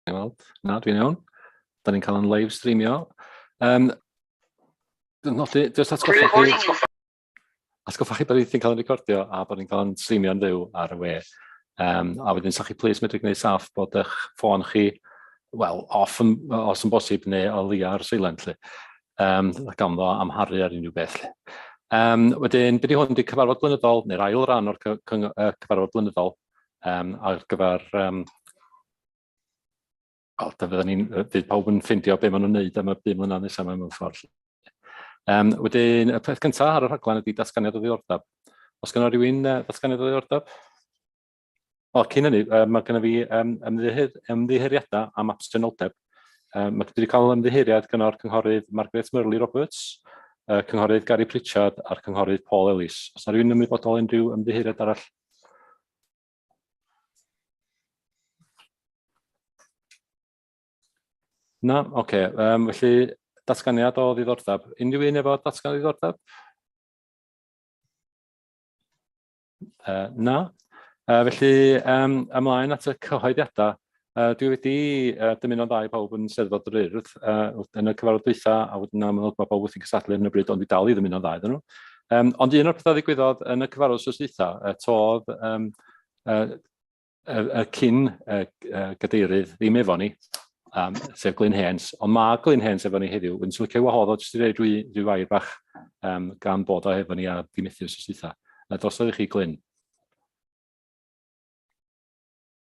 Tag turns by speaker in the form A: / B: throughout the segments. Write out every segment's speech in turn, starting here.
A: Gawn ni weld. Na, dwi'n iawn. Da ni'n cael yn live streamio. Um, dwi'n nodi, jyst atgoffa chi... Atgoffa chi bod ni'n cael yn recordio a bod ni'n cael yn streamio yn fyw ar y we. Um, a wedyn, sa'ch chi plis medru gwneud saff bod eich ffôn chi, wel, off yn, os yn bosib, neu o leia ar silent lli. Um, gawn ddo amharu ar unrhyw beth lli. Um, wedyn, bydd hwn wedi cyfarfod blynyddol, neu'r ail ran o'r cyfarfod blynyddol, um, ar gyfer um, O, da fydden ni'n... Bydd pawb yn ffindio be maen nhw'n neud am y bum mlynedd nesaf yma mewn ffordd. Um, wedyn, y peth cyntaf ar y rhaglen ydy datganiad o ddiddordeb. Os gynnal rhywun uh, datganiad o ddiddordeb? O, cyn hynny, um, mae gennym fi um, ymddiheir, ymddiheiriadau am absenoldeb. Um, mae wedi cael ymddiheiriad gyda'r cynghorydd Margaret Murley Roberts, uh, cynghorydd Gary Pritchard a'r cynghorydd Paul Ellis. Os yna rhywun ymwybodol unrhyw ymddiheiriad arall? Na? Oce. Okay. Um, felly, datganiad o ddiddordeb. Unrhyw un efo datgan o ddiddordeb? Uh, na? Uh, felly, um, ymlaen at y cyhoeddiadau. Uh, dwi wedi uh, dymuno'n dda i bawb yn Steddfod yr Urdd uh, yn y cyfarfod dwytha, a wedyn amlwg mae bawb wrthi'n cysadlu ar hyn o bryd, ond dwi dal i ddymuno'n dda iddyn nhw. Um, ond un o'r pethau ddigwyddodd yn y cyfarfod sos dwytha, uh, todd um, uh, y, y cyn uh, uh, gadeirydd ddim efo ni, um, sef Glyn Hens, ond mae Glyn Hens efo ni heddiw, yn sylcio wahodd o jyst i reid rwy, rwy wair bach um, gan bod o efo ni a ddim ethu sos dwytha. Uh, drosodd i chi Glyn.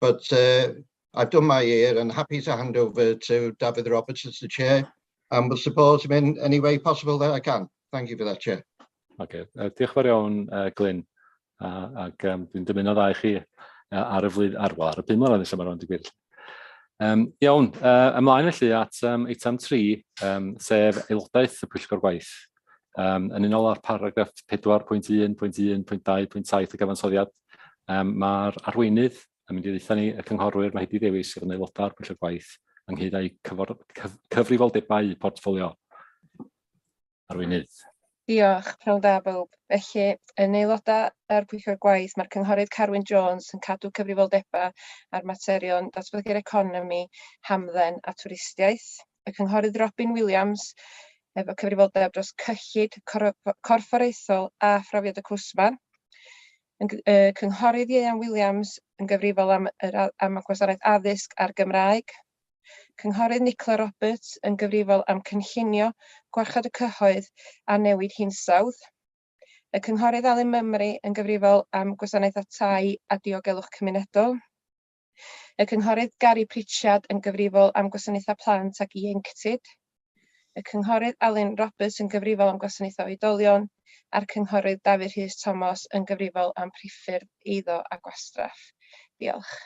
B: But uh, I've done my year and happy to hand over to David Roberts as the chair and will support him in any way possible that I can. Thank you for that, Chair. Okay. Uh, diolch
A: yn fawr iawn, uh, Glyn. Uh, ac um, dwi'n dymuno dda i chi uh, ar y flwydd, ar, well, ar y pum mlynedd nesaf mae'n digwydd. Um, iawn, uh, ymlaen felly at um, eitem 3, um, sef aelodaeth y pwyllgor gwaith. Um, yn unol â'r paragraff 4.1.1.2.7 y gyfansoddiad, Yym ma'r arweinydd yn mynd i ddeutha ni, y cynghorwyr, Mehdi Dewi sydd yn aelodau o'r pwyllgor gwaith ynghyd â'i cyfor- cyf- cyfrifoldebau portffolio. Arweinydd. Diolch,
C: pnawn da bawb. Felly, yn aelodau o'r pwyllgor gwaith, mae'r cynghorydd Carwyn Jones yn cadw cyfrifoldebau ar materion datblygu'r economi, hamdden a twristiaeth. y Cynghorydd Robin Williams, efo cyfrifoldeb dros cyllid corfforaethol a phrofiad y cwsmer. Yn y Cynghorydd Ieuan Williams yn gyfrifol am, yr, am y gwasanaeth addysg a'r Gymraeg. Cynghorydd Nicola Roberts yn gyfrifol am cynllunio gwarchod y cyhoedd a newid hinsawdd. Y Cynghorydd Alun Mymru yn gyfrifol am gwasanaeth a tai a diogelwch cymunedol. Y Cynghorydd Gary Pritchard yn gyfrifol am Gwasanaethau Plant ac Ieuenctid, y Cynghorydd Alun Roberts yn gyfrifol am Gwasanaethau Oedolion a'r Cynghorydd Dafydd Rhys Tomos yn gyfrifol am Priffyrdd Eiddo a Gwastraff. Diolch.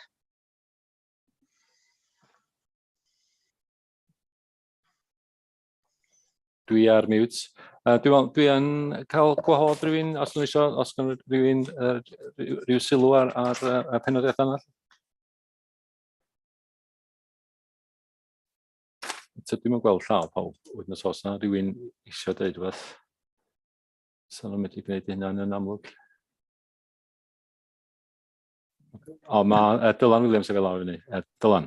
A: Dwi ar mute. Uh, dwi, dwi yn cael gwahodd rhywun, os nhw eisiau, os gan rhywun uh, rhyw sylw ar, ar uh, penoddiad yna. So dwi'n mynd gweld llaw pawb wedyn os oes yna rhywun eisiau dweud rhywbeth. So nhw'n medru gwneud hynna yn amlwg. O, mae uh, Dylan Williams yn fel awr fyny. Uh, Dylan.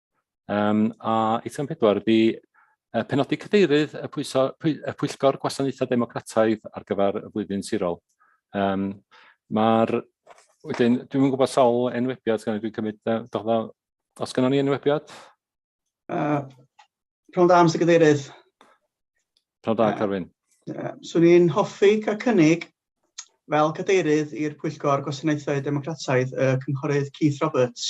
A: Um, a eitem pedwar ydy uh, penodi cadeirydd y, pwyso, pwy, y Pwyllgor Gwasanaethau Democrataidd ar gyfer y flwyddyn sirol. Um, Mae'r... Wedyn, dwi'n yn gwybod sawl enwebiad, gan dwi'n cymryd, uh, dda, os gynnon ni enwebiad?
D: Uh, Pnawn da,
A: Mr Cadeirydd. Pnawn da, Carwyn. Uh, Swn i'n
D: hoffi cael cynnig fel cadeirydd i'r Pwyllgor Gwasanaethau Democrataidd y Cynghorydd Keith Roberts.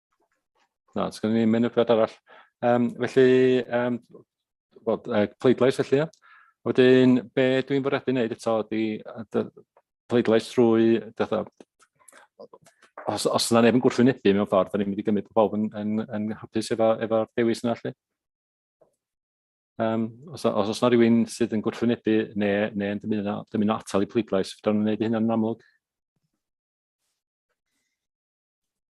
A: Na, sgan ni'n mynd y bryd arall. Um, felly, um, well, uh, pleidlais felly, ia. Wedyn, be dwi'n bwriadu wneud eto ydy pleidlais trwy, dda, os, os yna neb yn gwrthwynebu mewn ffordd, da ni'n mynd i gymryd pobl yn, yn, yn hapus efo, efo dewis yna felly. Um, os, os, os na rhywun sydd yn gwrthwynebu neu, neu yn dymuno, dymuno atal i pleidlais, fydda'n gwneud hynna'n amlwg.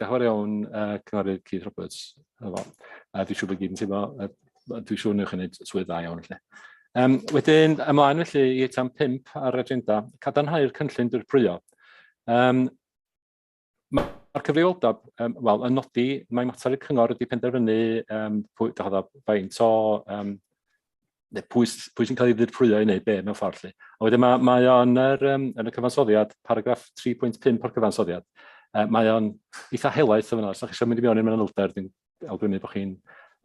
A: Diolch yn fawr iawn, uh, Cynghorydd Keith Roberts. A dwi'n siŵr bod gyd yn teimlo, dwi'n siŵr newch chi wneud swydd dda iawn felly. Um, wedyn, ymlaen felly i etam 5 ar agenda, cadarnhau'r cynllun dirprwyo. Um, Mae'r cyfrifoldeb, um, wel, yn nodi, mae mater y cyngor wedi penderfynu um, pwy, faint o um, neu pwy, pwy sy'n cael ei ddirprwyo i wneud be mewn ffordd lle. A wedyn mae, mae o'n er, um, yn y cyfansoddiad, paragraff 3.5 o'r cyfansoddiad, uh, mae o'n eitha helaeth o fyna, os ydych chi eisiau mynd i mewn i'n manylder, dwi'n awgrymu bod chi'n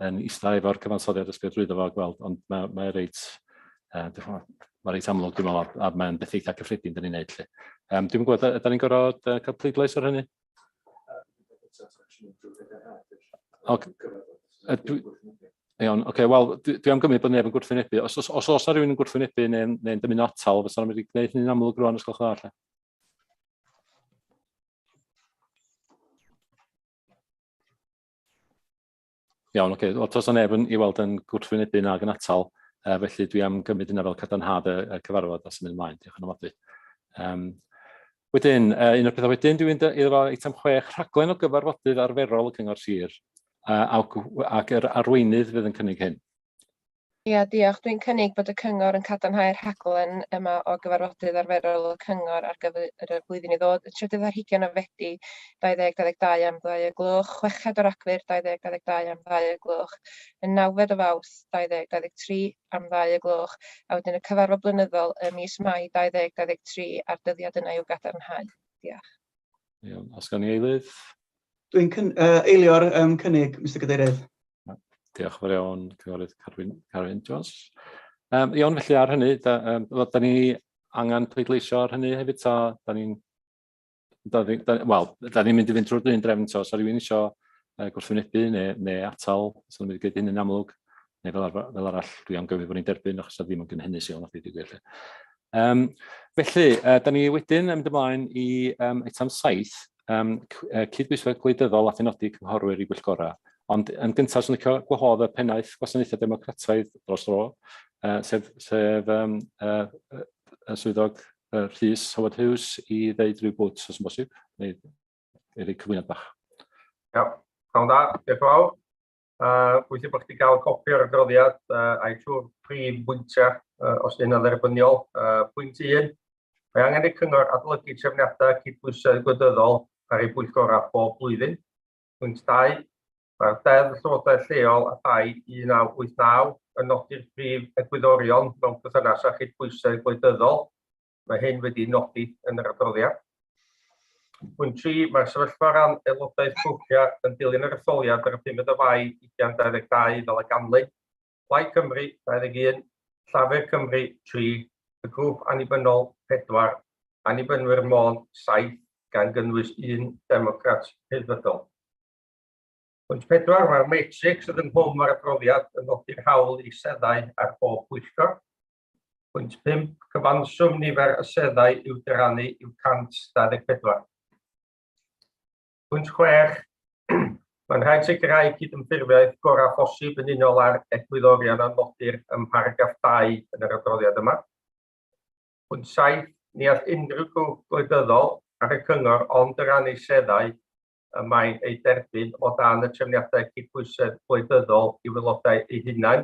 A: yn eistedd efo'r cyfansoddiad ysgrifennu drwyddo fo a gweld, ond mae, mae reit, uh, mae reit amlwg dwi'n meddwl, a, a mae'n beth eitha cyffredin dyn ni'n neud lle. Um, dwi'n gwybod, ydyn ni'n gorfod uh, cael pleidlais ar hynny? Okay. Iawn, oce, okay, wel, dwi, dwi am gymryd bod neb yn gwrthwynebu. Os, os, os oes rhywun yn gwrthwynebu neu'n neu, neu dymuno atal, fysa nhw'n mynd i gwneud hynny'n amlwg rwan, os gwelwch yn dda, Iawn, oce. Wel, tos o neb yn ei weld yn gwrthwynebu nag yn atal, uh, felly dwi am gymryd yna fel cadarnhad y, y cyfarfod a symud ymlaen. Diolch yn ofnadwy. Um, wedyn, uh, un o'r pethau wedyn, dwi'n mynd iddo fo eitem chwech, rhaglen o gyfarfodydd arferol y Cyngor Sir, uh, ac yr arweinydd fydd yn cynnig hyn. Ia,
C: diolch. Dwi'n cynnig bod y Cyngor yn cadarnhau'r rhaglen yma o gyfarfodydd arferol y Cyngor ar gyfer y flwyddyn i ddod, y trydydd ar hugain o Fedi 2022 am ddau o'r gloch, chweched o Ragfyr 2022 am ddau o'r gloch, y nawfed o Fawrth 2023 am ddau o'r gloch, a wedyn y cyfarfod blynyddol ym mis Mai 2023 a'r dyddiad yna i'w gadarnhau. Diolch. Iawn, os
A: gawn ni eilydd? Dwi'n cyn-
D: yy eilio'r yym cynnig, Mister Cadeirydd. Diolch
A: yn fawr iawn, Cynghorydd Carwyn, Carwyn Jones. Um, iawn, felly ar hynny, da, um, da ni angen pleidleisio ar hynny hefyd, ta, da ni'n... Wel, da ni'n mynd i fynd drwy'r un drefn, so os rhywun eisiau uh, gwrthwynebu neu, neu atal, so ni'n mynd i gwneud hyn yn amlwg, neu fel, ar, fel arall, dwi am gyfrif bod ni'n derbyn, achos da ddim yn gynhennus iawn, a dwi wedi gweld. Um, felly, uh, da ni wedyn yn mynd ymlaen i um, eitem 7, um, cydbwysedd gwleidyddol a phenodi cynghorwyr i bwyllgorau. Ond yn gyntaf, sy'n licio gwahodd y pennaeth gwasanaethau democrataidd dros dro, uh, sef, sef um, uh, uh, swyddog uh, Rhys Howard Hughes i ddeud rhyw bwt os yn bosib, neu i rei cyflwyniad bach. Iawn, yeah.
E: da, diolch yn fawr. A bwysig bod chdi gael copi o'r adroddiad uh, a'i trwy'r prif bwyntiau, uh, os ydy'n dderbyniol. Uh, pwynt 1, mae angen i'r cyngor adolygu trefniadau cydbwysedd gwledyddol ar ei bwyllgorau bob blwyddyn. Pwynt 2, mae'r deddf llywodraeth lleol a thai 1989 yn nodi'r prif egwyddorion mewn perthynas â chydbwysedd gwledyddol Mae hyn wedi nodi yn yr adroddiad. Pwynt 3, mae'r sefyllfa ran aelodaeth grwpiau yn dilyn yr etholiad ar y 5 o Fai 2022 fel y ganlyn. Plaid Cymru, 21, Llafur Cymru, 3, y grŵp annibynnol, 4, annibynwyr Môn, 7, gan gynnwys un Democrat Rhyddfrydol. Pwynt pedwar, mae'r matrix sydd ynghlwm â'r adroddiad yn nodi'r hawl i seddau ar bob pwyllgor. Pwynt 5, cyfanswm nifer y seddau i'w dyrannu yw 124. Pwynt 6, mae'n rhaid sicrhau cydymffurfiaeth gorau phosib yn unol â'r egwyddorion a nodir ym mharagraff 2 yn yr adroddiad yma. Pwynt 7, ni all unrhyw grwp gwleidyddol ar y cyngor ond yr annu seddau y mae'n ei derbyn o dan y trefniadau cydbwysedd gwleidyddol i wylodau eu hunain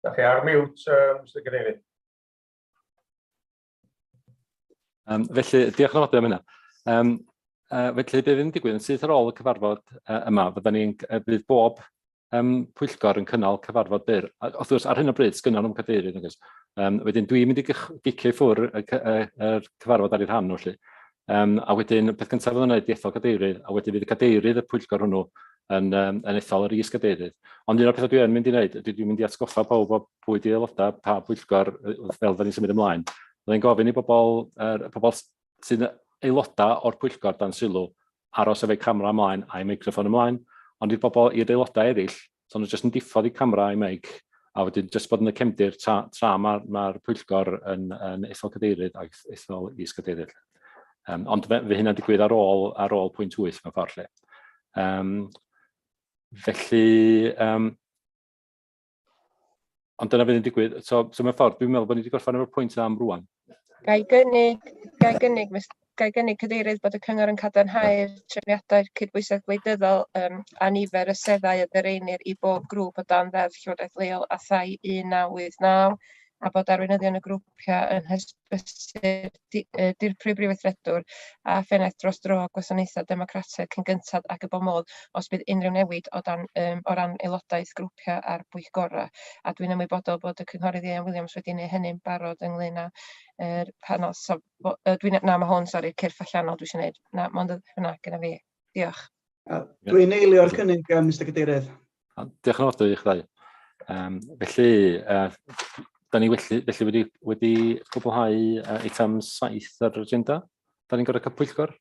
E: Da chi ar miwt, uh, Mr Cadeirydd. Um,
A: felly, diolch yn oedau am hynna. Um, uh, felly, bydd yn digwydd yn syth ar ôl y cyfarfod uh, yma, fydda ni'n uh, bydd bob um, pwyllgor yn cynnal cyfarfod byr. Wrth gwrs, ar hyn o bryd, sgynnon nhw'n cadeirydd. Um, wedyn, dwi'n mynd i gicio i ffwr y, y, y, y cyfarfod ar ei rhan nhw, felly. Yym, a wedyn y peth cyntaf fydd o'n wneud ydi ethol gadeirydd, a wedyn fydd y cadeirydd y pwyllgor hwnnw yn yym yn ethol yr is-gadeirydd. Ond un o'r pethau dwi yn mynd i wneud ydy dwi'n mynd i atgoffa pawb o pwy di aelodau pa bwyllgor yy fel fydden ni'n symud ymlaen. Fydda i'n gofyn i bobl yr y pobl s- sy'n aelodau o'r pwyllgor dan sylw aros efo'u camera ymlaen a'u meicroffon ymlaen, ond i'r bobl i'r aelodau eraill So nhw jyst yn diffodd i camera i meic, a wedyn jyst bod yn y cefndir tra, tra mae'r ma, ma pwyllgor yn, yn ethol cadeirydd a ethol is cadeirydd. Um, ond fe, fe hynna'n digwydd ar ôl, ar ôl pwynt 8 mewn ffordd lle. Um, felly, um, Ond dyna fydd yn digwydd. So, so mewn ffordd, dwi'n meddwl bod ni wedi gorffen efo'r pwynt yna am rwan. Gai gynnig,
C: gai gynnig, gai gynnig cadeirydd bod y cyngor yn cadarnhau'r trefniadau cydbwysedd gwleidyddol um, a nifer y seddau y ddereinir i bob grŵp o dan ddeddf Llywodraeth Leol a thai 1989 a bod arweinyddion y grwpiau yn hysbys brysur di- yy dirprwy Brif Weithredwr a phennaeth dros dro Gwasanaethau Democrataidd cyn gynted ac y bo modd os bydd unrhyw newid o dan yym o ran aelodaeth grwpiau a'r bwyllgorau. A dwi'n ymwybodol bod y Cynghorydd Ieuan Williams wedi neu hynny'n barod ynglŷn â yr panel so bo- yy dwi'n na ma' hwn sori cyrff allanol dwi isio neud na mond y hwnna gynna fi. Diolch. Dwi'n
D: eilio'r cynnig yym Mister Cadeirydd. Diolch yn fawr
A: i chi ddau. Um, felly, uh, da ni felly, felly wedi, wedi gwblhau uh, eitem 7 ar yr agenda. Da ni'n gorau cael pwyllgor?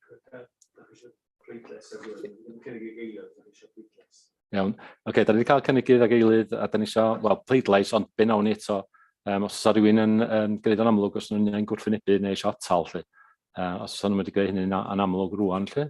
A: Iawn. Oce, okay, da ni wedi cael cynigydd ag eilydd a da ni eisiau, wel, pleidlais, ond be nawn ni eto. Um, os oes rhywun yn, yn gwneud o'n amlwg, os nhw'n ein gwrthwynebu neu eisiau atal, lle. Uh, os oes nhw'n wedi gwneud hynny'n anamlwg rwan, lle.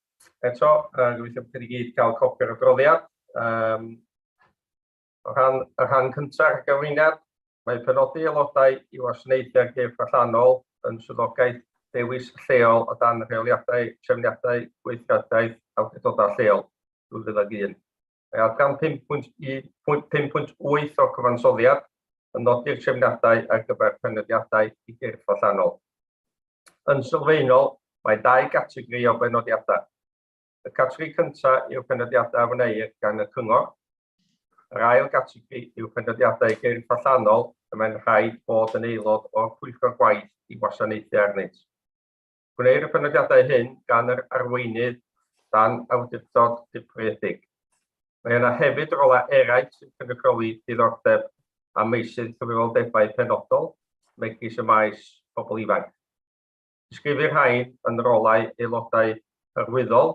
E: Eto, yy gobeithio bod chi wedi gyd cael copi o'r adroddiad. Um, o rhan, y rhan cyntaf ar gyfriniad, mae penodi aelodau i wasanaethu'r gyrff allanol yn swyddogaeth dewis lleol o dan rheoliadau trefniadau gweithredaeth awdurdodau lleol 2001. Mae gan 5.8 o cyfansoddiad yn nodi'r trefniadau ar gyfer penodiadau i gyrff allanol. Yn sylfaenol, mae dau gategori o benodiadau. Y categori cyntaf yw penodiadau a wneir gan y cyngor. Yr ail gategori yw penodiadau i gyrff allanol y mae'n rhaid bod yn aelod o'r pwyllgor gwaith i wasanaethu arnynt. Gwneir y penodiadau hyn gan yr arweinydd dan awdurdod dirprwyedig. Mae yna hefyd rolau eraill sy'n cynrychioli diddordeb a meysydd cyfrifoldebau penodol, megis y maes pobl ifanc. Disgrifir rhain yn rolau aelodau hyrwyddol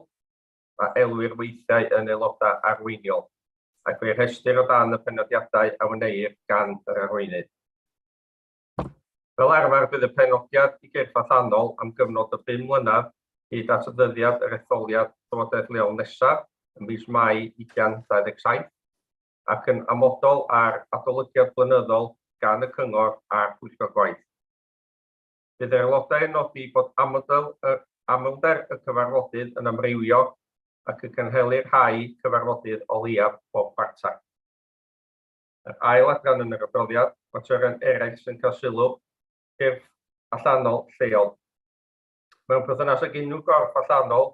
E: a elwir weithiau yn aelodau arweiniol, ac fe'i rhestrir o dan y penodiadau a wneir gan yr arweinydd. Fel arfer bydd y penodiad i gyrff allanol am gyfnod o bum mlynedd hyd at ddyddiad yr etholiad Llywodraeth Leol nesaf ym mis Mai 2027 ac yn amodol ar adolygiad blynyddol gan y Cyngor a'r Pwyllgor Gwaith. Bydd yr aelodau yn nodi bod amodl yr amlder y cyfarfodydd yn amrywio ac y cynhelir rhai cyfarfodydd o leiaf bob chwarter. yr ail adran yn yr adroddiad, materion eraill sy'n cael sylw, cyrff allanol lleol. Mewn perthynas ag unrhyw gorff allanol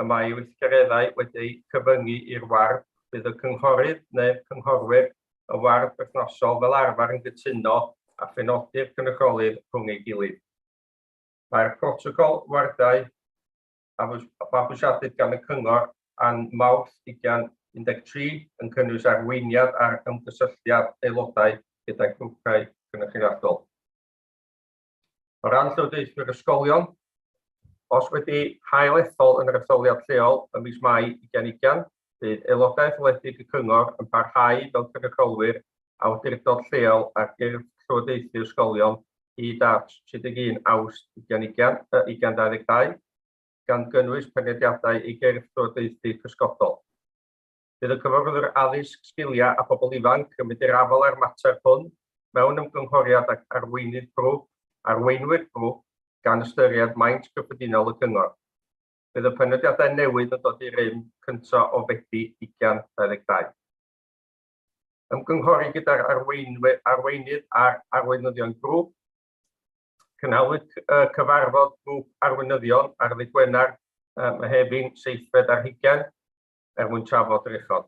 E: y mae ei weithgareddau wedi'u cyfyngu i'r ward, bydd y cynghorydd neu'r cynghorwyr y ward berthnasol fel arfer yn gytuno a phenodi'r cynrychiolydd rhwng ei gilydd. Mae'r protocol wardau a fabwysiadwyd gan y Cyngor yn Mawrth 2013 yn cynnwys arweiniad ar ymgysylltiad aelodau gyda grwpiau cynrychioliadol. O ran llywodraethwyr ysgolion, os wedi hail ethol yn yr etholiad lleol ym mis Mai 2020, Bydd aelodaeth wledig y Cyngor yn parhau fel cynrychiolwyr awdurdod lleol ar gyrff llywodraethu ysgolion hyd at 31 Awst 2022, gan gynnwys penrhediadau i gyrff llywodraethu cysgodol. Bydd y Cyfarwyddwr Addysg, Sgiliau a Phobl Ifanc yn mynd i'r afael â'r mater hwn mewn ymgynghoriad ag arweinydd grŵp, arweinwyr grŵp, gan ystyried maint cyffredinol y Cyngor. bydd y penodiadau newydd yn dod i rym cyntaf o Fedi 2022. Ymgynghori gyda'r arweinydd a'r arweinyddion grŵp. Cynhaliwyd cyfarfod grŵp arweinyddion ar ddydd Gwener, Mehefin, seithfed ar hugain, er mwyn trafod yr uchod.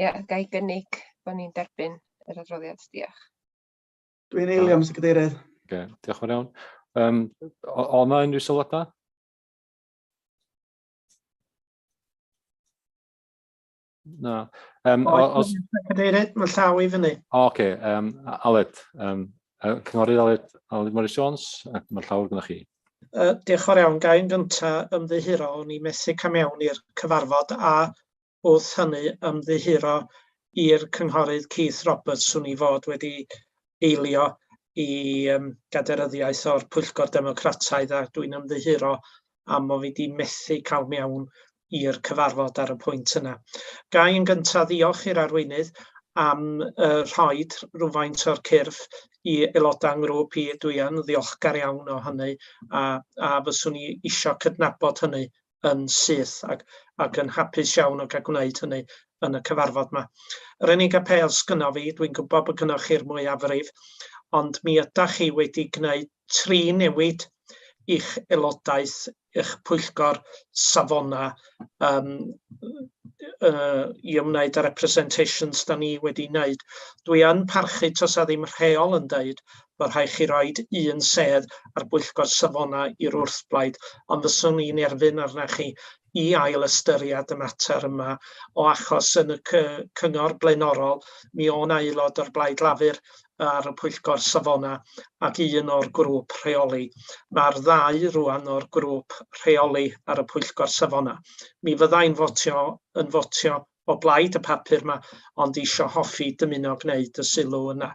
C: Ia, ga i gynnig bod ni'n derbyn yr adroddiad. Diolch. Dwi'n
D: eilio, Mr Cadeirydd. Okay, diolch yn iawn.
A: Um, o yna unrhyw sylwadau? Na. Um, o,
F: os... Cadeirydd, mae llaw i fyny. O, oce. Okay. Um,
A: Aled, um, cynghorydd Aled, Aled Morris Jones, mae llaw gyda chi. Uh, diolch o'r iawn.
F: Gai'n gyntaf ymddiheuro o'n i methu cam iawn i'r cyfarfod a wrth hynny ymddiheuro i'r Cynghorydd Keith Roberts, swn i fod wedi eilio i um, gaderyddiaeth o'r Pwyllgor Democrataidd a dwi'n ymddiheuro am o fi wedi methu cael mewn i'r cyfarfod ar y pwynt yna. Gai yn gyntaf ddiolch i'r arweinydd am uh, rhoi rhywfaint o'r cyrff i aelodau ngrwp i. Dwi yn ddiolchgar iawn o hynny a, a fyswn i eisiau cydnabod hynny yn syth ac, ac yn hapus iawn o gael gwneud hynny yn y cyfarfod yma. Yr unig apêl sgynnof fi, dwi'n gwybod bod gynnwch chi'r mwyafrif, ond mi ydach chi wedi gwneud tri newid i'ch aelodaeth, eich pwyllgor safona um, uh, i ymwneud â'r representations da ni wedi wneud. Dwi yn parchu tos a ddim rheol yn dweud Mae rhaid chi roid un sedd ar bwyllgor safonau i'r wrthblaid, ond fyswn i'n erfyn arna chi i ail ystyried y mater yma o achos yn y cy cyngor blaenorol mi o' 'na aelod o'r Blaid Lafur ar y pwyllgor safonau ac un o'r grŵp rheoli. Mae'r ddau rŵan o'r grŵp rheoli ar y pwyllgor safonau. Mi fydda i'n fotio yn fotio o blaid y papur 'ma ond isio hoffi dymuno gneud y sylw yna.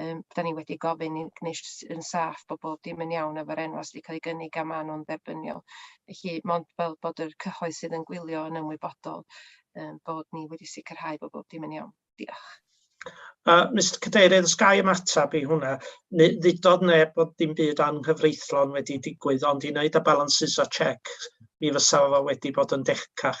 C: Yym, da ni wedi gofyn i'n Gymheisiwn yn saff bod bob dim yn iawn efo'r enwau sy' 'di cael eu gynnig a maen nhw'n dderbyniol. Felly, mond fel bod yr cyhoedd sydd yn gwylio yn ymwybodol yym bod ni wedi sicrhau bod bob dim yn iawn. Diolch. Uh,
F: Mr Cadeirydd, os gai ymateb i hwnna, neu ddudodd neb bod dim byd anghyfreithlon wedi digwydd, ond i wneud y balances a checks, mi fysa fo wedi bod yn decach.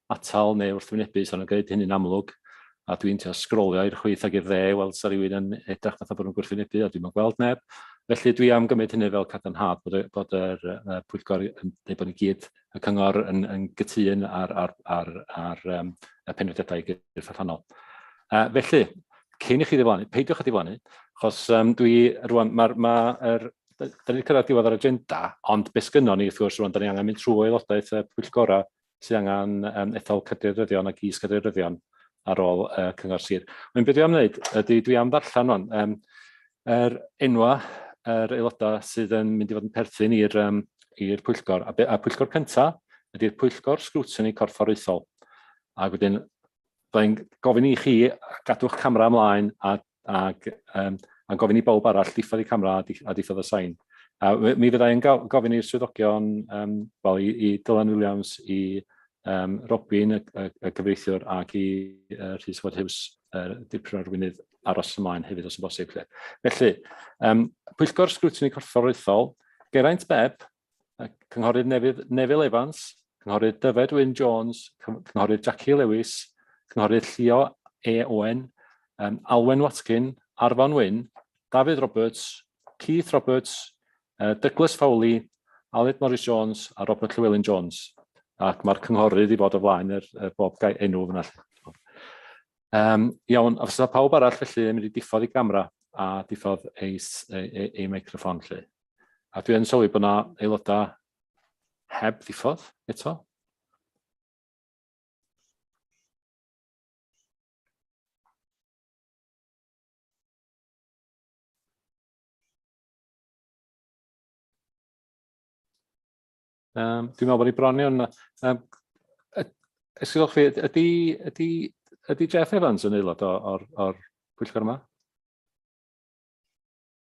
A: atal neu wrthwynebu, so nhw'n gwneud hynny'n amlwg, a dwi'n trio sgrolio i'r chwith ac i'r dde i weld sa rhywun yn edrych fatha bod nhw'n gwrthwynebu, a dwi'n yn gweld neb. Felly dwi am gymryd hynny fel cadarnhad bod, bod yr uh, pwyllgor, neu bod ni gyd y cyngor yn, yn gytun ar, ar, ar, ar um, y penodiadau gyrff allanol. Uh, felly, cyn i chi ddiflannu, peidiwch â ddiflannu, achos um, dwi rwan, mae'r ma, ma er, da ni'n cyrraedd diwedd yr agenda, ond beth gynnon ni, wrth gwrs, rwan, da ni angen mynd trwy aelodaeth y pwyllgorau sydd angen um, ethol cadeirdyddion ac is-cadeirdyddion ar ôl uh, cyngor sir. Mae'n byd am wneud, ydy dwi am ddarllen o'n, um, yr enwa yr aelodau sydd yn mynd i fod yn perthyn i'r um, i'r pwyllgor. A, a pwyllgor cyntaf ydy'r pwyllgor sgrwtini corfforaethol. Ac wedyn, byddai'n gofyn i chi gadw'ch camera ymlaen a ac um, a gofyn i bawb arall diffodd y camera a, a diffodd y sain. A mi fyddai yn gofyn i'r swyddogion, um, well, i, i Dylan Williams, i um, Robin, y, y, y cyfreithiwr, ac i uh, Rhys Ward Hughes, uh, dipyn o'r wynydd aros ymlaen hefyd os yn bosib. Felly, um, pwyllgor sgrwtini corfforaethol, Geraint Beb, Cynghorydd Nefydd Nefil Evans, Cynghorydd Dyfed Wyn Jones, Cynghorydd Jackie Lewis, Cynghorydd Llio E Owen, um, Alwen Watkin, Arfon Wyn, Dafydd Roberts, Keith Roberts, uh, Douglas Fowley, Aled Morris Jones a Robert Llewelyn Jones. Ac mae'r cynghorydd i fod o flaen yr, er, er bob gael enw fyna. Um, iawn, os yna pawb arall felly yn mynd i diffodd ei gamera a diffodd ei, ei, ei, ei microfon lle. A dwi yn sylwi bod yna aelodau heb ddiffodd eto. Um, dwi'n meddwl bod ni bron iawn. Um, Esgydwch chi, ydy, ydy, ydy Jeff Evans yn aelod o'r, or, or pwyllgor yma?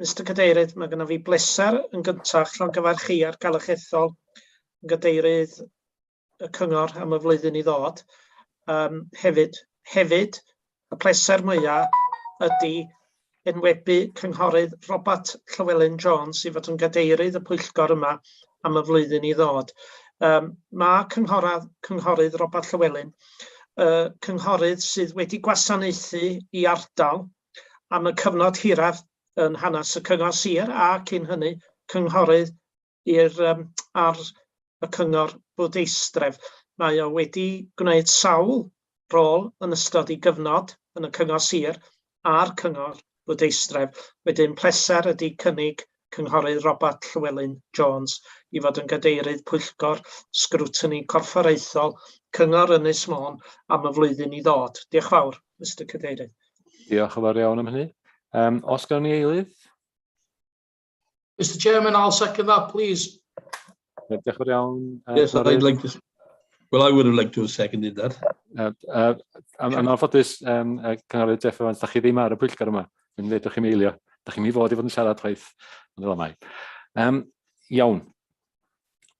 F: Mister Cadeirydd, mae gennym fi bleser yn gyntaf llongyfarchu ar galwch ethol yn gadeirydd y cyngor am y flwyddyn i ddod. Um, hefyd, hefyd, y pleser mwyaf ydy enwebu cynghorydd Robert Llywelyn Jones i fod yn gadeirydd y pwyllgor yma am y flwyddyn i ddod. Um, mae cynghorad, cynghorydd Robert Llywelyn, uh, cynghorydd sydd wedi gwasanaethu i ardal am y cyfnod hiraf yn hanes y cyngor sir a cyn hynny cynghorydd i'r um, ar y cyngor bwrdeistref. Mae o wedi gwneud sawl rôl yn ystod ei gyfnod yn y cyngor sir a'r cyngor bwrdeistref. Wedyn pleser ydy cynnig Cynghorydd Robat Llewelyn Jones i fod yn Gadeirydd Pwyllgor Sgrwtini Corfforaethol Cyngor Ynys Môn am y flwyddyn i ddod. Diolch yn fawr, Mister Cadeirydd. Diolch yn fawr iawn
A: am hynny. Um, os gawn ni eilydd?
G: Mr Chairman, I'll second that, please. Ie, diolch
A: yn fawr iawn yy... Yes, I'd like
G: to... Well, I would have liked to have seconded that. Yy
A: yy a a ma'n ffodus yym yy cynghorydd Jeff Evans, 'dach chi ddim ar y pwyllgor yma, dwi'n deud 'dach chi'm eilio, 'dach chi'm i fod i fod yn siarad chwaith, ond fel mae. Yym iawn.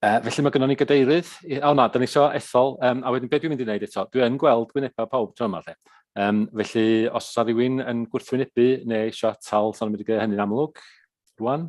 A: Yy felly ma' gynnon ni gadeirydd i- o na, 'dan ni isio ethol yym a wedyn be' dwi'n mynd i neud eto, dwi yn gweld gwyneba pawb tro 'ma 'lly, yym felly os 'sa rywun yn gwrthwynebu ne' isio atal, 'sa nw'n mynd i gneud hynny'n amlwg rŵan.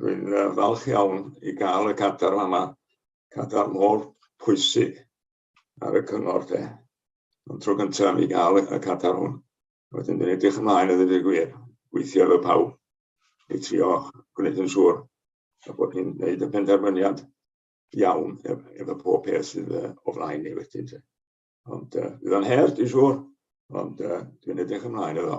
H: Dwi'n uh, falch iawn i gael y cadar yma, cadar mor pwysig ar y cyngor te. Ond tro gyntaf i gael y cadar hwn. Wedyn dwi'n edrych ymlaen i ddweud y gwir, gweithio efo pawb i trio gwneud yn siŵr a bod ni'n gwneud y penderfyniad iawn efo pob peth sydd o flaen ni wedyn. Te. Ond uh, bydd o'n her, dwi'n siŵr, ond uh, dwi'n edrych ymlaen iddo.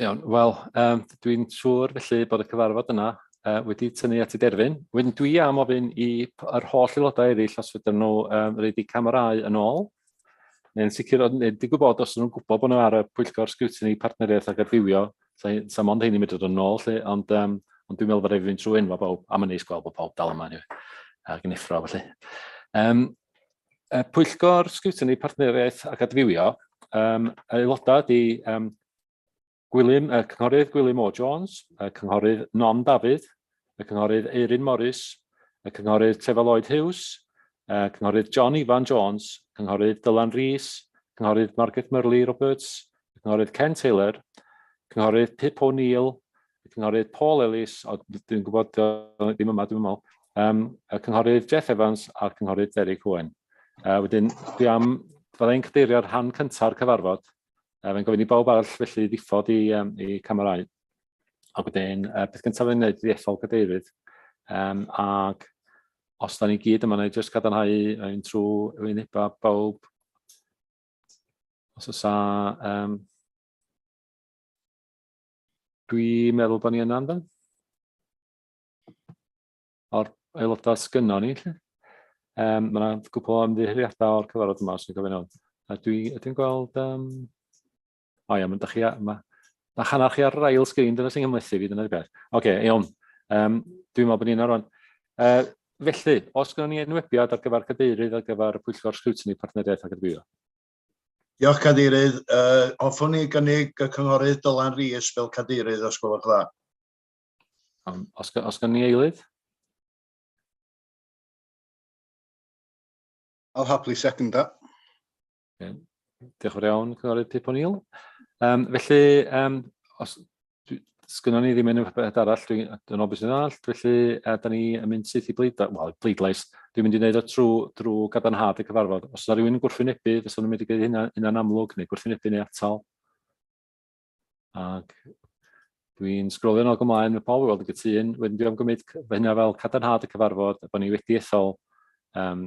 A: Iawn, wel, um, dwi'n siŵr felly bod y cyfarfod yna uh, wedi tynnu at ei derfyn. Wedyn dwi am ofyn i yr holl aelodau eraill os fydden nhw um, reid i camerau yn ôl, neu'n sicr, neu di gwybod os nhw'n gwybod bod nhw ar y pwyllgor sgwtini partneriaeth ac adfywio, sa'n mond hyn i mynd yn ôl, lle, ond, um, ond dwi'n meddwl bod e'n fynd trwy enwa bawb, am yn neis gweld bod pawb dal yma, anyway, ac yn effro, felly. Um, Y Pwyllgor Sgwtini Partneriaeth ac Adfywio, um, aelodau di um, Gwilym, y Cynghorydd Gwilym O Jones, y Cynghorydd Non Dafydd, y Cynghorydd Eirin Morris, y Cynghorydd Tefa Lloyd Hughes, y Cynghorydd John Ifan Jones, Cynghorydd Dylan Rees, Cynghorydd Margaret Murley Roberts, y Cynghorydd Ken Taylor, Cynghorydd Pip O'Neill, y cynghorydd Paul Ellis, o, dwi'n gwybod ddim yma, dwi'n meddwl, um, y cynghorydd Jeff Evans a'r cynghorydd Derry Cohen. Uh, wedyn, dwi am, fydda i'n cadeirio'r rhan cynta'r cyfarfod. Uh, Fe'n gofyn i bawb arall felly ddiffodd i, um, i camerau. A wedyn, uh, beth gyntaf fe'n gwneud i ethol cadeirydd. Um, ac os da ni gyd yma, na i jyst gadarnhau yn trwy wyneba bawb. Os oes a... Um, Dwi'n meddwl bod ni yna, yndan? O'r aelodau sgynnon ni, lle? Um, mae yna gwbl o ymddiheuriadau o'r cyfarfod yma, os ni'n gofyn hwn. A dwi, ydyn gweld... Um... O ia, mae chi... Mae, ma hanner chi ar yr ail sgrin, dyna sy'n ymlethu fi, dyna'r beth. Oce, okay, iawn. Um, dwi'n meddwl bod ni'n arwain. Uh, felly, os gyda ni enwebiad ar gyfer cadeirydd ar gyfer y pwyllgor sgrwtini partneriaeth ac adfywio? Diolch,
B: Cadeirydd. Uh, hoffwn i gynnig y cynghorydd Dylan Rhys fel cadeirydd, os gwelwch dda. Um,
A: os, os gan ni eilydd? I'll
B: happily second that. Okay.
A: Diolch yn iawn, Cynghorydd Pip O'Neill. Um, felly, um, os, Sgynnon ni ddim unrhyw beth arall, dwi'n dyn o beth sy'n all, felly a, da ni yn mynd syth i bleidlais, wel, bleidlais, dwi'n mynd i wneud o trwy, drwy gadarnhad y cyfarfod. Os yna rhywun yn gwrthwynebu, fysa nhw'n mynd i gwneud hynna, hynna'n amlwg, neu gwrthwynebu neu atal. Ac dwi'n sgrolio'n ôl gymlaen, mae pawb i weld y gytun, wedyn dwi'n gymryd hynna fel cadarnhad y cyfarfod, bod ni wedi ethol um,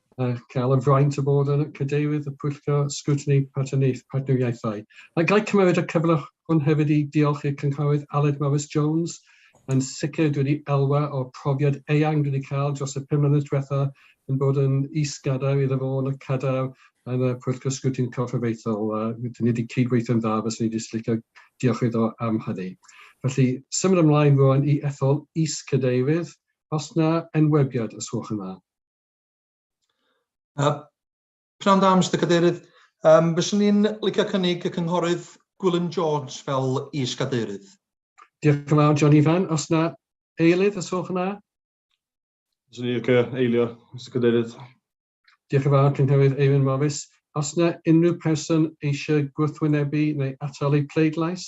I: a cael y fraint o fod yn Cadeirydd y Pwyllgor Sgrwtini Partneriaethau. A ga'i cymeryd y cyfle hwn hefyd i diolch i'r Cynghorydd Aled Morris Jones. Yn sicr, dwi wedi elwa o'r profiad eang dwi wedi cael dros y pum mlynedd diwetha' yn bod yn is-gadair iddo fo yn y cadair yn y Pwyllgor Sgrwtini Corfforaethol. Rydyn ni wedi cyd-weithio'n dda, fyswn i jyst licio diolch iddo am hynny. Felly, symud ymlaen rwan i ethol Is-Cadeirydd, os na enwebiad, os gwelwch yn dda.
G: Uh, Pnawn da, Mr Cadeirydd. Um, fyswn i'n licio cynnig y cynghorydd Gwilym
J: Jones fel is-gadeirydd. Diolch yn
I: fawr, John Ifan. Os na eilydd, os gwelwch yna? Fyswn
K: i'n licio eilio, Mr Cadeirydd. Diolch yn
I: fawr, Cynghorydd Eirin Morris. Os na unrhyw person eisiau gwrthwynebu neu atal eu pleidlais?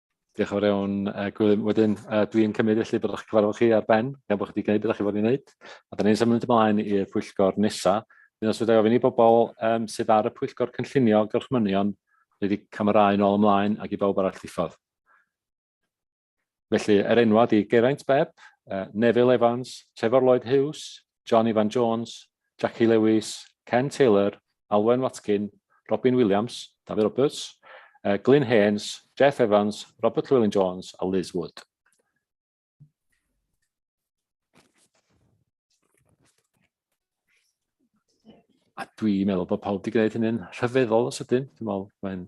A: Diolch yn fawr iawn yy Gwilym. Wedyn yy dwi'n cymryd felly bod eich cyfarfod chi ar ben gan bod chi wedi gwneud be dach chi fod i wneud a dan ni'n symud ymlaen i'r pwyllgor nesa. Wedyn os fedrai ofyn i bobl yym sydd ar y pwyllgor cynllunio gorchmynion roid eu camerâu nôl ymlaen ac i bawb arall ddiffodd. Felly er enwau ydi Geraint Bebb, yy Nefil Evans, Trefor Lloyd Hughes, John Ifan Jones, Jackie Lewis, Ken Taylor, Alwen Watkin, Robin Williams, Dafydd Roberts, Glyn Haines, Jeff Evans, Robert Llewelyn Jones a Liz Wood. A dwi'n meddwl bod pawb wedi gwneud hynny'n rhyfeddol o sydyn. Dwi'n meddwl mae'n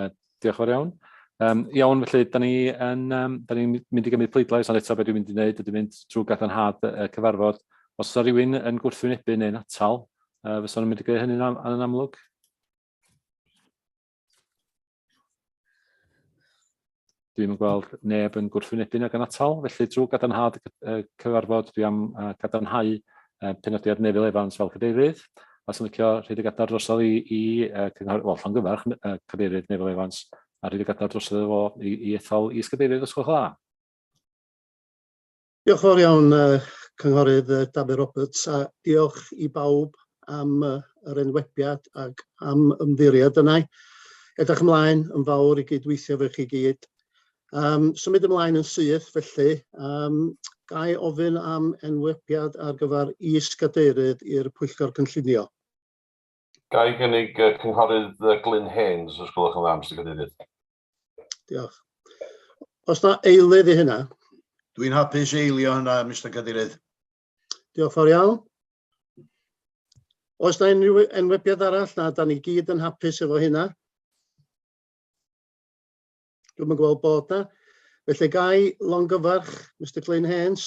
B: Uh,
A: diolch o'r iawn. Um, iawn, felly, da ni yn, um, da ni mynd i gymryd pleidlais, ond eto beth dwi'n mynd i wneud, dwi'n mynd trwy gadarnhad y cyfarfod. Os yna rhywun yn gwrthwynebu neu'n atal, uh, fysa nhw'n mynd i greu hynny'n am, yn amlwg? Dwi'm yn gweld neb yn gwrthwynebu'n ag yn atal, felly drwy gadarnhad y cyfarfod dwi am uh, gadarnhau uh, penodiad Nefil Evans fel cadeirydd, a sy'n licio rhaid y gadar drosodd i, i uh, cynghor, wel, llongyfarch uh, cadeirydd Nefil Evans, a rhaid y gadar drosodd efo i, i ethol is-gadeirydd os gwelwch dda.
L: Diolch yn fawr iawn Cynghorydd Dafydd Roberts a diolch i bawb am yr enwebiad ac am ymddiried yna. Edrych ymlaen yn fawr i gyd-weithio efo chi gyd. Um, symud ymlaen yn syth felly, um, gai ofyn am enwebiad ar gyfer is-gadeirydd i'r Pwyllgor Cynllunio?
M: Gai gynnig Cynghorydd Glyn Haynes, os gwelwch yn dda, Mister Cadeirydd. Diolch.
L: Os na eilydd i hynna? Dwi'n hapus
B: eilio hynna, Mr Cadeirydd. Diolch fawr
L: iawn. Oes na unrhyw enwebiad arall na da ni gyd yn hapus efo hynna? Dwi'n yn gweld bod na. Felly gai longyfarch Mr Glyn Hens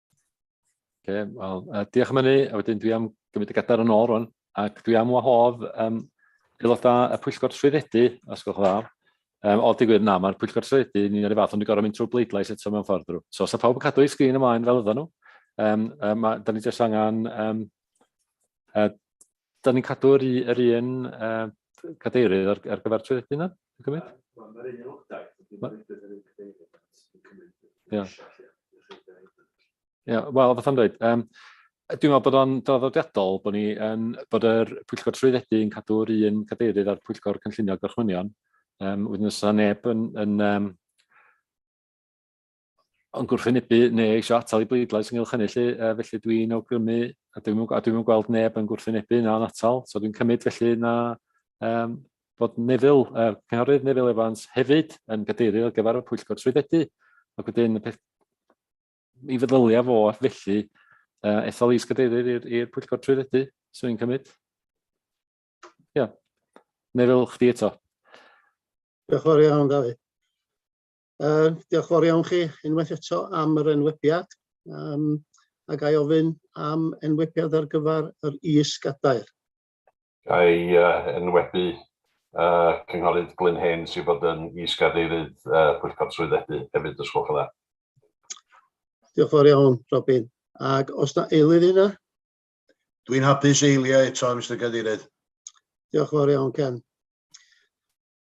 B: Okay,
A: well, uh, diolch am hynny, a wedyn dwi am gymryd y gadar yn ôl rwan, ac dwi am wahodd um, aelodau y pwyllgor trwyddedu, os gwelwch dda. Um, o, digwydd na, mae'r pwyllgor trwyddedu yn un o'r fath, ond dwi'n gorau mynd trwy bleidlais eto mewn ffordd drwy. So, os so, pawb yn cadw ei sgrin ymlaen fel ydyn nhw, um, um, da ni jyst angen um, uh, Da ni'n cadw yr, yr un uh, cadeirydd ar, ar gyfer trwydded yna, yn cymryd? Mae'r un aelodaeth, dwi'n meddwl bod yr un cadeirydd yn cymryd. Ia. Ia, wel, fath o'n dweud, um, dwi'n meddwl bod o'n draddodiadol bod, ni, um, bod yr pwyllgor trwyddedu yn cadw'r un cadeirydd a'r pwyllgor cynllunio gorchmynion. Um, wedyn os yna neb yn, yn um, yn gwrthwynebu neu eisiau atal i bleidlais ynghylch hynny lle, felly dwi'n awgrymu, a dwi'n dwi, dwi gweld neb yn gwrthwynebu na yn atal, so dwi'n cymryd felly na um, bod Nefil, uh, cynghorydd Nefil Evans hefyd yn gadeiru ar gyfer y pwyllgor trwyddedu, ac wedyn y peth, mi feddylia fo felly uh, ethol is gadeirydd i'r pwyllgor trwyddedu, so dwi'n cymryd. Ia, yeah. Nefil, chdi eto.
L: Diolch yn fawr iawn, David. Uh, diolch fawr iawn chi unwaith eto am yr enwebiad. Um, a gai ofyn am enwebiad ar gyfer yr is-gadair?
M: Gai uh, enwebu uh, Cynghorydd Glyn Hen sy'n bod yn is-gadeirydd uh, Pwyllgor Trwyddedu hefyd, os gwelwch yn dda.
L: Diolch fawr iawn, Robin. Ac os na eilydd yna? Dwi'n
N: hapus eiliau eto, Mr Cadeirydd. Diolch fawr
L: iawn, Ken.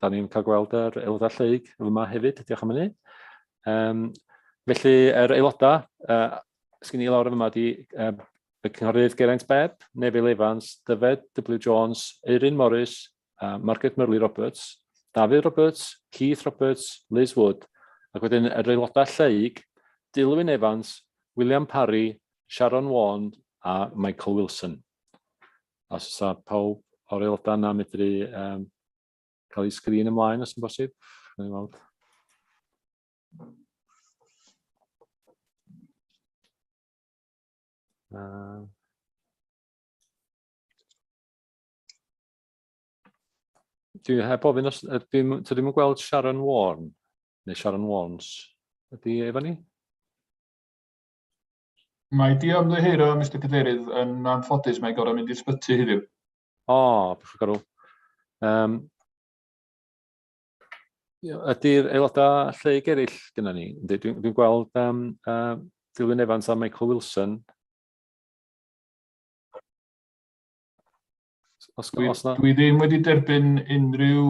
A: Da ni'n cael gweld yr aelodau lleug yma hefyd, diolch am hynny. Um, felly, yr aelodau, uh, sgyn i lawr yma di uh, y cynghorydd Geraint Beb, Nefil Evans, Dyfed W Jones, Eirin Morris, uh, Margaret Murley Roberts, David Roberts, Keith Roberts, Liz Wood, ac wedyn yr aelodau lleug, Dilwyn Evans, William Parry, Sharon Wand a Michael Wilson. Os oes pawb o'r aelodau yna medru um, cael ei sgrin ymlaen os yn bosib. Uh, dwi heb ofyn os... Dwi'n ddim yn gweld Sharon Warren, neu Sharon Warnes. Ydy efo ni?
K: Mae di ymddiheuro, Mister Cadeirydd. Yn anffodus, mae gorau mynd i'r sbyty heddiw. O, oh,
A: beth gorau. Um, ydy'r aelodau lle i gerill gyda ni? Dwi'n dwi gweld um, uh, Dilwyn Evans a Michael Wilson
K: Os, dwi, os na... dwi ddim wedi derbyn unrhyw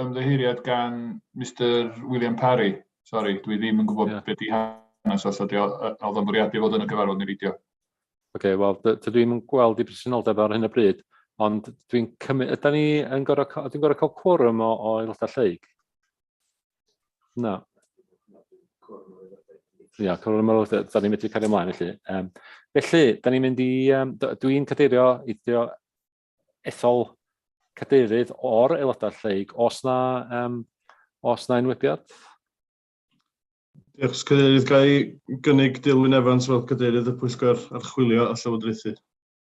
K: ymddeheuriad gan Mr William Parry. Sorry, dwi ddim yn gwybod yeah. beth i hanes os ydy oedd o'n bwriadu fod yn y gyfarfod neu fideo. Oce, okay, wel,
A: dwi ddim yn gweld i presenoldeb ar hyn o bryd, ond dwi'n cymryd, ydy ni yn gorau, dwi'n gorau cael cwrwm o, o aelodau lleig? Na. Ia, cwrdd ymwyl, da ni'n medru cario ymlaen felly. Um, felly, da ni'n mynd i, um, dwi'n cadeirio eitho ethol cadeirydd o'r aelodau lleig, os na, um, os na enwebiad.
K: Diolch, cadeirydd, gael ei gynnig Dilwyn Evans fel cadeirydd y pwyllgor archwilio a llywodraethu.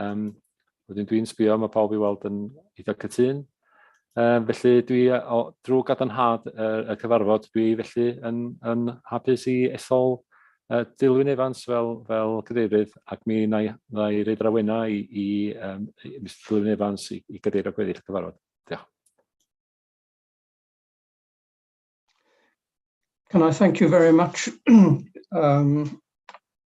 A: Um, wedyn dwi'n sbio, mae pawb i weld yn eitha cytun. Um, felly dwi, o, drwy gadarnhad y, y cyfarfod, dwi felly yn, yn hapus i ethol uh, Dilwyn Evans fel, fel cadeirydd ac mi na i, na i reid rawena i, i, um, i Mr Dilwyn Evans i, i gadeirio gweddill y cyfarfod. Diolch.
F: Can I thank you very much um,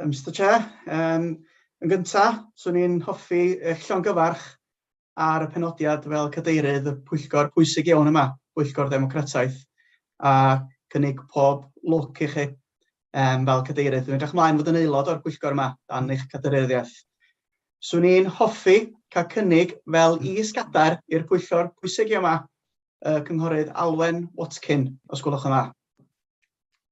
O: Yym
D: Mister Chair, yym yn gynta, 'swn i'n hoffi eich llongyfarch ar y penodiad fel cadeirydd y pwyllgor pwysig iawn yma, Pwyllgor Ddemocrataeth, a cynnig pob lwc i chi um, fel cadeirydd. Dwi'n edrych mlaen fod yn aelod o'r pwyllgor yma dan eich cadeiryddioedd. 'Swn i'n hoffi cael cynnig fel is-gadair i'r pwyllgor pwysig yma, y Cynghorydd Alwen Watkin, os gwelwch yn dda.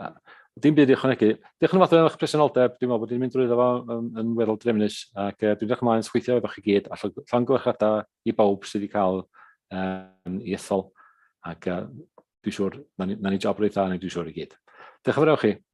A: Na, dim byd i ychwanegu. Diolch yn fawr am eich presenoldeb. Dwi'n meddwl bod ni'n mynd drwy fo yn, yn weddol drefnus ac uh, dwi'n edrych ymlaen sgweithio efo chi gyd a llawn gwerthradau i bawb sydd wedi cael um, i ethol ac uh, dwi'n siŵr na ni, na ni job reit dda ni dwi'n siŵr i gyd. Diolch yn fawr chi.